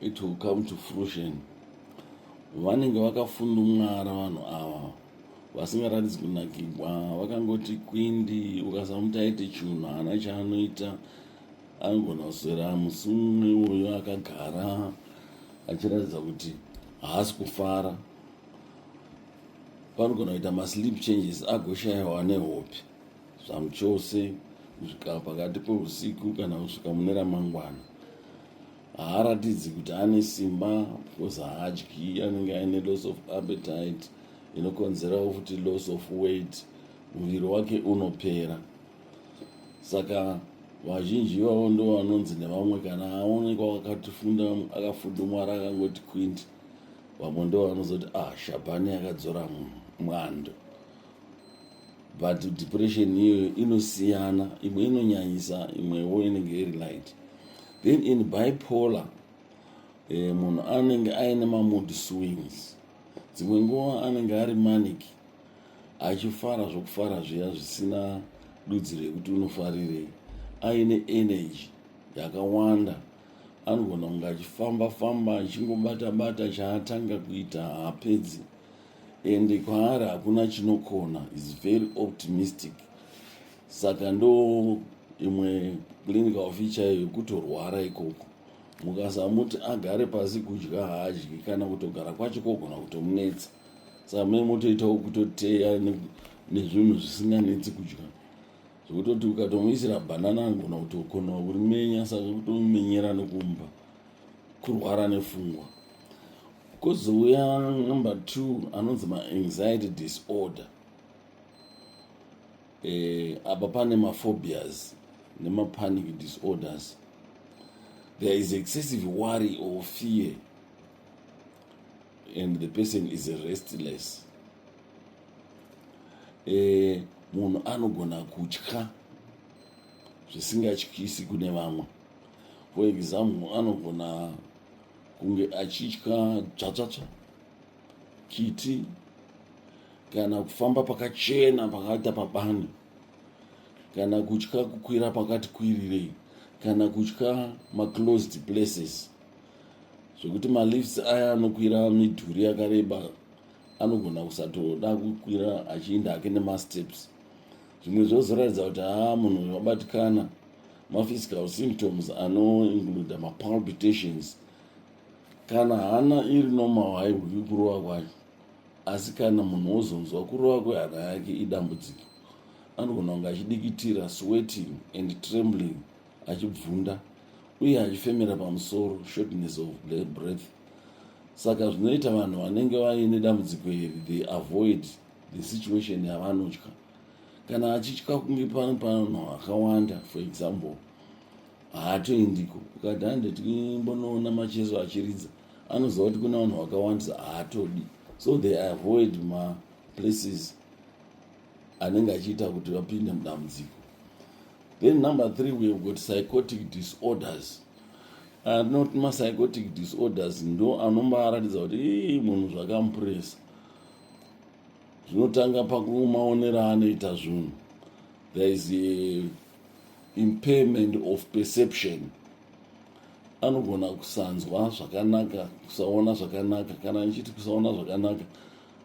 it will come to fruition vanenge vakafundumwara vanhu ava vasingaratidzi kunakigwa vakangoti kwindi ukasamuti aite chinhu haana chaanoita anogona kuswera musi mumwe uyo akagara achiratidza kuti haasi kufara panogona kuita masleep changes agoshayiwa nehope zvamuchose kusvika pakati peusiku kana kusvika mune ramangwana haaratidzi kuti ane simba because haadyi anenge aine loss of appetite inokonzerawo futi loss of weight muviri wake unopera saka vazhinji ivavo ndo vanonzi nevamwe kana aonekwa akatifunda akafudumwara akangoti quint vamwe ndo vanozoti ah shabhani akadzora mwando but depression iyoyo inosiyana imwe inonyanyisa imwewo inenge iri light then in bipolar eh, munhu anenge aine mamood swings dzimwe nguva anenge ari manic achifara zvokufara zviya zvisina dudzi rekuti unofarirei aine energy yakawanda anogona kunge achifamba famba achingobata bata chaatanga kuita haapedzi Ende kwaari hakuna chinokona is very optimistic saka ndo imwe clinical ofi chaiyo yekutorwara ikoko mukasamuti agare pasi kudya haadyi kana kutogara kwacho kogona kutomunetsa saka mune motoitawo kutoteya nezvinhu zvisinganetsi kudya zvekutoti ukatomuisira bhanana anogona kutokonawo kurimenya saka kutomumenyera nokumba kurwara nefungwa kozouya number two anonzi maanxiety disorder eh, apa pane maphobias nemapanic disorders there is excessive worry or fear and the person is restless eh, munhu anogona kutya zvisingatyisi kune vamwe For example, anogona kunge achitya dzvatsvatsva, kiti kana kufamba pakachena pakaita pabani kana kutya kukwira pakati kwirirei kana kutya maclosed places zvekuti malifts aya anokwira midhuri yakareba anogona kusatoda kukwira achiinda hake nemasteps zvimwe zvozoratidza kuti haa munhu uyu wabatikana maphysical symptoms anoincluda mapalpitations kana hana iri normal haihwiki kurova kwacho asi kana munhu wozonzwa kurova kwehana yake idambudziko anogona kunge achidikitira sweating and trembling achibvunda uye achifemera pamusoro shortness of breath saka zvinoita vanhu vanenge vaine dambudziko iri they avoid the situation yavanotya kana achitya kunge pano pano akawanda for example haatoendiko ukati hande timbonoona macheso achiridza anoziva kuti kuna vanhu vakawandisa haatodi so they avoid maplaces anenge achiita kuti vapinde mudambudziko then number three we've got psychotic disorders anoti ah, mapsychotic disorders ndo anombaratidza kuti munhu zvakamupuresa zvinotanga pakumaonera anoita zvinhu there is a impairment of perception anogona kusanzwa zvakanaka kusaona zvakanaka kana ndichiti kusaona zvakanaka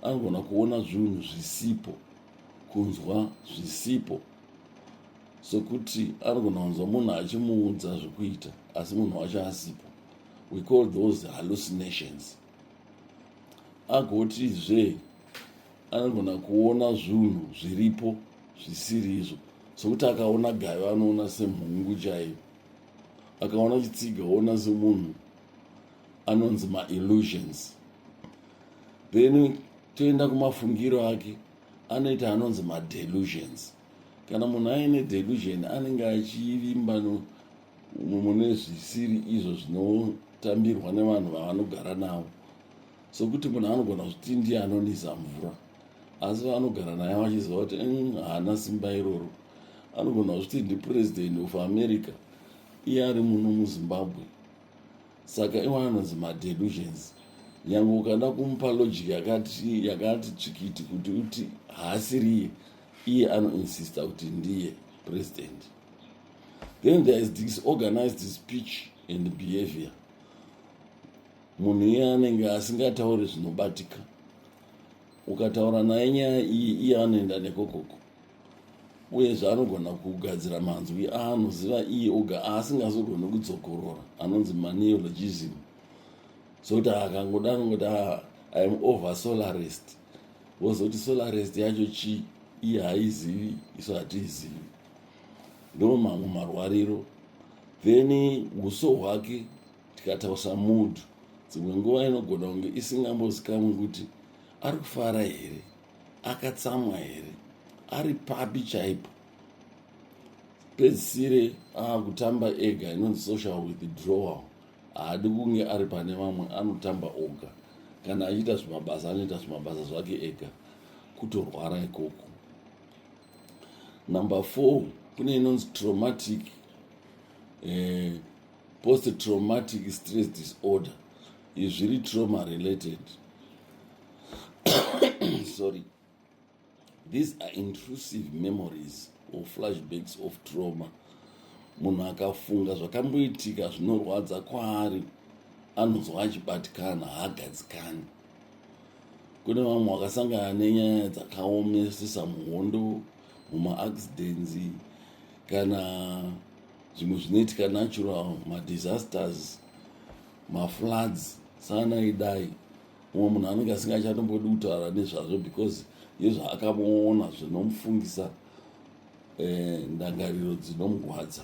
anogona kuona zvinhu zvisipo kunzwa zvisipo sokuti anogona kunzwa munhu achimuudza zvekuita asi munhu wacho asipo we call those hallucinations agotizve anogona kuona zvunhu zviripo zvisiri izvo sokuti akaona gayo anoona semhungu chaiyo akaona chitsiga oona semunhu anonzi maillusions then toenda kumafungiro ake anoita anonzi madelusions kana munhu aine delusion anenge achivimba umo mune zvisiri izvo zvinotambirwa nevanhu vavanogara navo sokuti munhu anogona kuti ndiye anonisa mvura asi vaanogara naye vachiziva kuti mm, haana simba iroro anogona kuti ndipuresident of america iye ari muno muzimbabwe saka iwa anonzi madelusions nyange ukada kumupa logic yakati yakati tsvikiti kuti uti haasiriye iye anoinsista kuti ndiye president then there is disorganized speech and behavior munhu iye anenge asingatauri zvinobatika ukataura naye nyaya iyi iye anoenda nekokoko uyezve anogona kugadzira manzwi aanoziva iye oga aasingazogoni kudzokorora anonzi maneologism zoti akangoda anongoti ah, iam over solarest wozoti solarest yacho chii iye haizivi isu hatiizivi ndo mamwe marwariro then uso hwake tikatausa mood dzimwe nguva inogona kunge isingambozikamwi kuti ari kufara here akatsamwa here ari papi chaipo pedzisire akutamba ega inonzi social withdrawal haadi kunge ari pane vamwe anotamba oga kana achiita zvimabasa anoita zvimabasa zvake ega kutorwara ikoko number four kune inonzi traumatic eh, post traumatic stress disorder izvi zviri trauma related sorry these are intrusive memories or flashbacks of trauma munhu akafunga zvakamboitika zvinorwadza kwaari anonzwa achibatikana haagadzikani Kune vamwe vakasangana nenyaya dzakaomesesa muhondo, mumaaccidents kana zvimwe zvinoitika natural madisasters mafloods sana idai umwe munhu anenge asingachatombodi kutaura nezvazvo because yezvaakamuona zvinomufungisa eh, ndangariro dzinomugwadza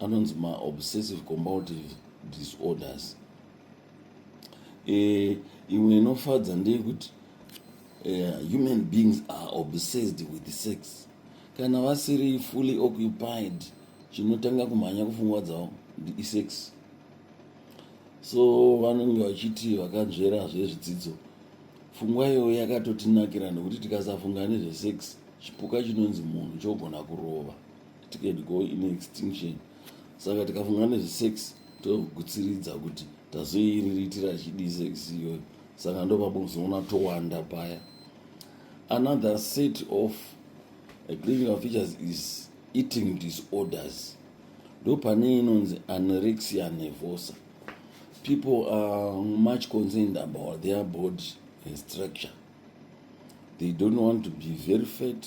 anonzi maobsessive combative disorders eh, imwe inofadza ndeyekuti eh, human beings are obsessed with sex kana vasiri fully occupied chinotanga kumhanya kufungwa dzavo isex so vanenge vachiti vakanzvera zvezvidzidzo fungwa iyoyo yakatotinakira nekuti tikasafunga nezvesex chipuka chinonzi munhu chogona kurova tikati go in extinction saka tikafunga nezvesex togutsiridza kuti tazoiriritira chidii sex iyoyo saka ndopabozoona towanda paya another set of eh, clinical features is eating disorders ndopane inonzi anorexia nevosa people are much concerned about their body and structure they don't want to be very fat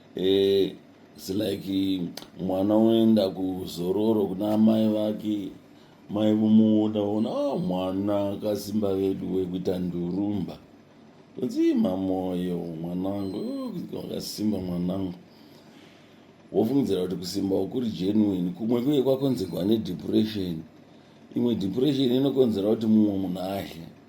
eh, it's like mwana unoenda kuzororo kuna amai vake mai vomuona ona oh, mwana akasimba vedu wekuita ndurumba kunzima moyo mwanangu oh, wakasimba mwanangu wofungidzira kuti kusimba kuri genuine kumwe kuye kwakonzerwa nedepression imwe depression inokonzera kuti mumwe munhu ahle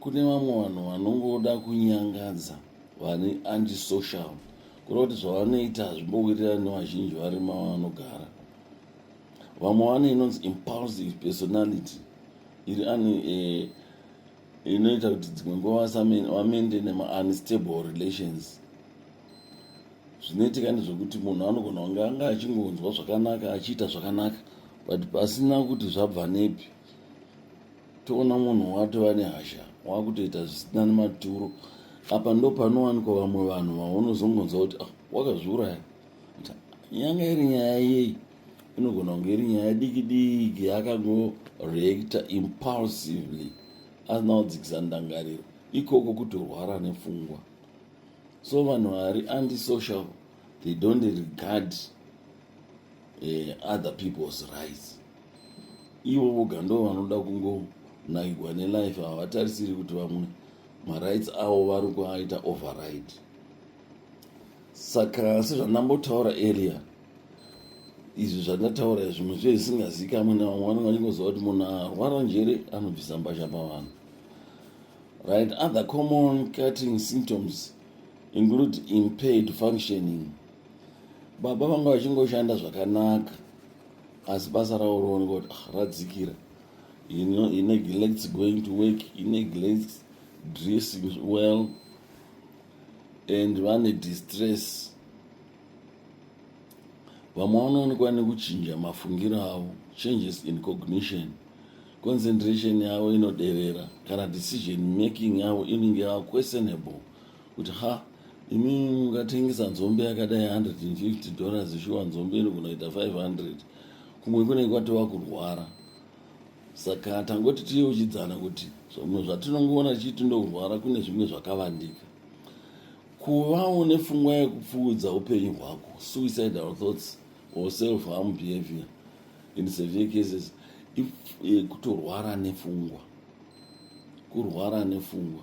kune vamwe vanhu vanongoda kunyangadza vane antisocial kureva kuti zvavanoita hazvimbowirirani nevazhinji vari mavanogara vamwe vane inonzi impulsive personality iri ani eh, inoita kuti dzimwe nguva vamende nemaunstable relations zvinoitika ndezvekuti munhu anogona kunge anga achingonzwa zvakanaka achiita zvakanaka but pasina kuti zvabva nepi toona munhu watova nehasha wakutoita zvisina nematuro apa ndo panowanikwa vamwe vanhu vaunozongonzwa kuti ah, wakazviuraya yanga iri nyaya yeyi inogona kunge iri nyaya diki diki yakangoreacta impulsively asina kudzikisa ndangariro ikoko kutorwara nepfungwa so vanhu vari antisocial they don't regard uh, other people's rights ivo voga ndo vanoda kungonakigwa nelife havatarisiri kuti vamwe marights avo vari kuaita override saka sezvandambotaura earlier izvi zvandataura zvimwe zviye zvisingazikamwe nevamwe vanenge vachingoziva kuti munhu arwara njere anobvisa mbasha pavanhu right other common cutting symptoms include impaired functioning baba vanga vachingoshanda zvakanaka asi basa ravo rooneka kuti ah, radzikira he neglects going to work he neglects dressing well and vane distress vamwe vanoonekwa nekuchinja mafungiro avo changes in cognition concentration yavo inoderera kana decision making yavo inenge yava questionable kuti ha imi mungatengesa nzombe yakadai 150 dollars shuwa nzombe inogona kuita 500 kumwe kunenge kwatova kurwara saka tangoti tiyeuchidzana kuti zvamwe zvatinongoona chiti ndokurwara kune zvimwe zvakavandika kuvawo nefungwa yekupfuudza upenyu hwako suicidal thoughts or self harm behavior in severe cases if eh, kutorwara nefungwa kurwara nefungwa